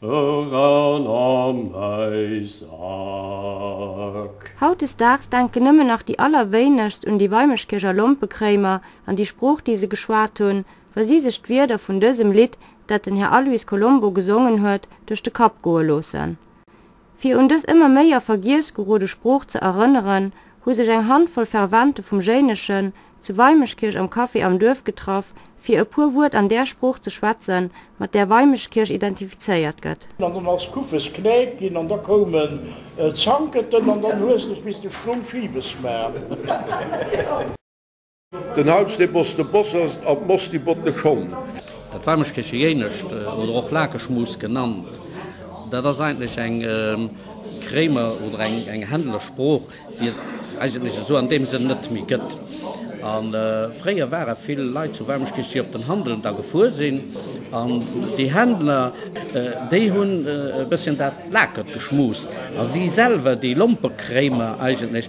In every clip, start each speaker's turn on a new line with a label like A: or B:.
A: Eur an am Neisack. Hautdesdaags denken nëmmen nach déi allerwéinegst un déi Weimerskircher Lompekréimer an déi Sprooch, déi se geschwat hunn, wa si sech d'Wierder vun dësem Lidd, dat den Här Aloys Colombo gesongen huet, duerch de Kapp goe loossen. Fir un dës ëmmer méi a Vergiess gerode Sprooch ze erënneren, hu sech eng Handvoll Fervente vum Jéineschen zu Weimeschkirch am Café am Duerf getraff, fir e puer Wuert an där Sprooch ze schwätzen, mat där Weimeschkirch identifizéiert gëtt. An dann ass Kuffes Knäip ginn an da koumen Zanketen an dann hues dech bis de Stroum schiwes maach. Den Haupst e Boss, de Bossers an d'Moss di bott de Schong. Dat Warmeschkeche Jéinescht oder och Lakeschmus genannt, dat ass eigentlech eng Kréimer oder eng Händler Sprooch, déi et eigentlech esou an deem Sënn net méi gëtt. A fréier ware vill Leit zu Warmeschkech, déi op den Handel da gefuer sinn an déi Händler, déi hunn e bësschen dat Lakert geschmust a si selwer, déi Lompekréimer eigentlech,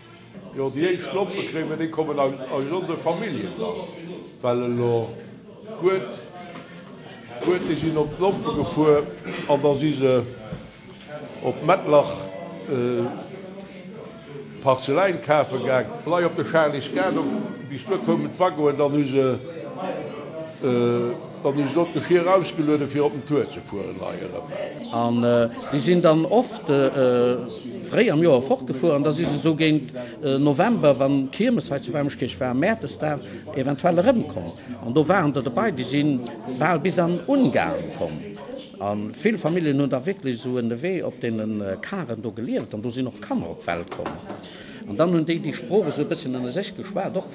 A: Jo, déi éischt Lompe kréie mir, déi kommen eis ons e Familljenland, well elo guet guet, déi sinn op d'Lompe gefuer an da si se op Mettlach Parzeläin kafe gaang, lei op de Charlysgate, bis duer koumen d'Waggonen, dann hu se. Dann hu se dot de Fier ausgelueden fir op den Tour ze fueren hei erem. An déi sin dann oft fréi am Joer fortgefuer, an da si se sou géint November, wann Kiermes hei zu Wermeschkirch war, Mäertes da eventuell erem komm. An do waren der derbei, déi sin bal bis an Ungarn komm. An vill Familjen hun da wierklech sou ënnerwee op deenen Karen do geliewt, an do sin och Kanner op d'Welt komm. An dann hun déi déi Sprooch esou e bësschen ënner sech geschwat och.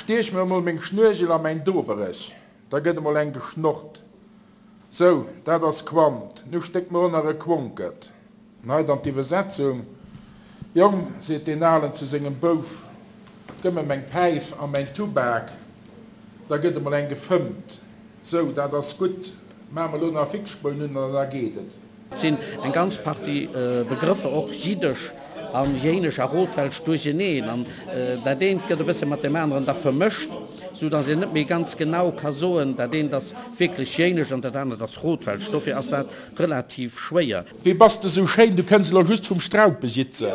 A: Stiech mir emol meng Schnuergel a mäin Doberech, da gëtt emol eng geschnorrt. Sou, dat ass Quant, nu stéck mer ënner e Quonket. An hei dann d'Iwwersetzung, Jong, seet deen Alen zu sengem Bouf, gëmm mer meng Päif a mäin Tubak, da gëtt emol eng gefëmmt. Sou, dat ass gutt, maache mer elo nach e Fixspoun un an da geet et. Et sinn eng ganz Partie Begrëffer, och jiddesch an jéinesch a rothwelsch, duercheeneen an dat eent gëtt e bësse mat deem aneren da vermëscht, sou datt een net méi ganz genau ka soen, dat eent ass wierklech jéinesch an dat anert ass rothwelsch. Dofir ass dat relativ schwéier. Wéi bass de sou schéin, du kënns elo just vum Straupe sitzen.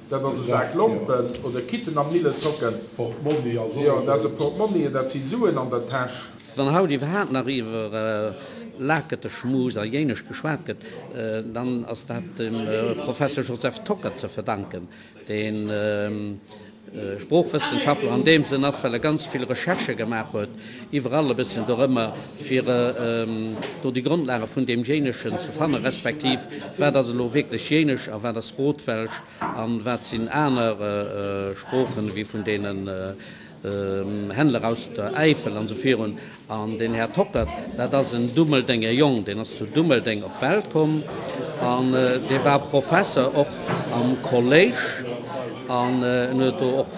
A: Dat ass e Sak Lompen oder Kitten am Millesocken. Jo, dat ass e Portmonnie, dat si Suen an der Täsch. Wann haut iwwerhaapt nach iwwer Laketeschmus a Jéinescht geschwat gëtt, dann ass dat dem Professor Joseph Tocker ze verdanken, dee Sproochwëssenschaftler an deem Sënn ass, well e ganz vill Recherchë gemaach huet iwwerall e bësschen dorëmmer, fir do déi Grondlage vun deem Jéineschen ze fannen, respektiv wat ass elo wierklech Jéinesch a wat ass Rotwelsch a wat sinn aner Sproochen ewéi vun deenen Händler aus der Äifel an esou virun. An den Här Tockert, dat ass en Dummeldenger Jong, deen ass zu Dummeldeng op d'Welt komm an dee war Professer och am Kolléisch an en huet do och,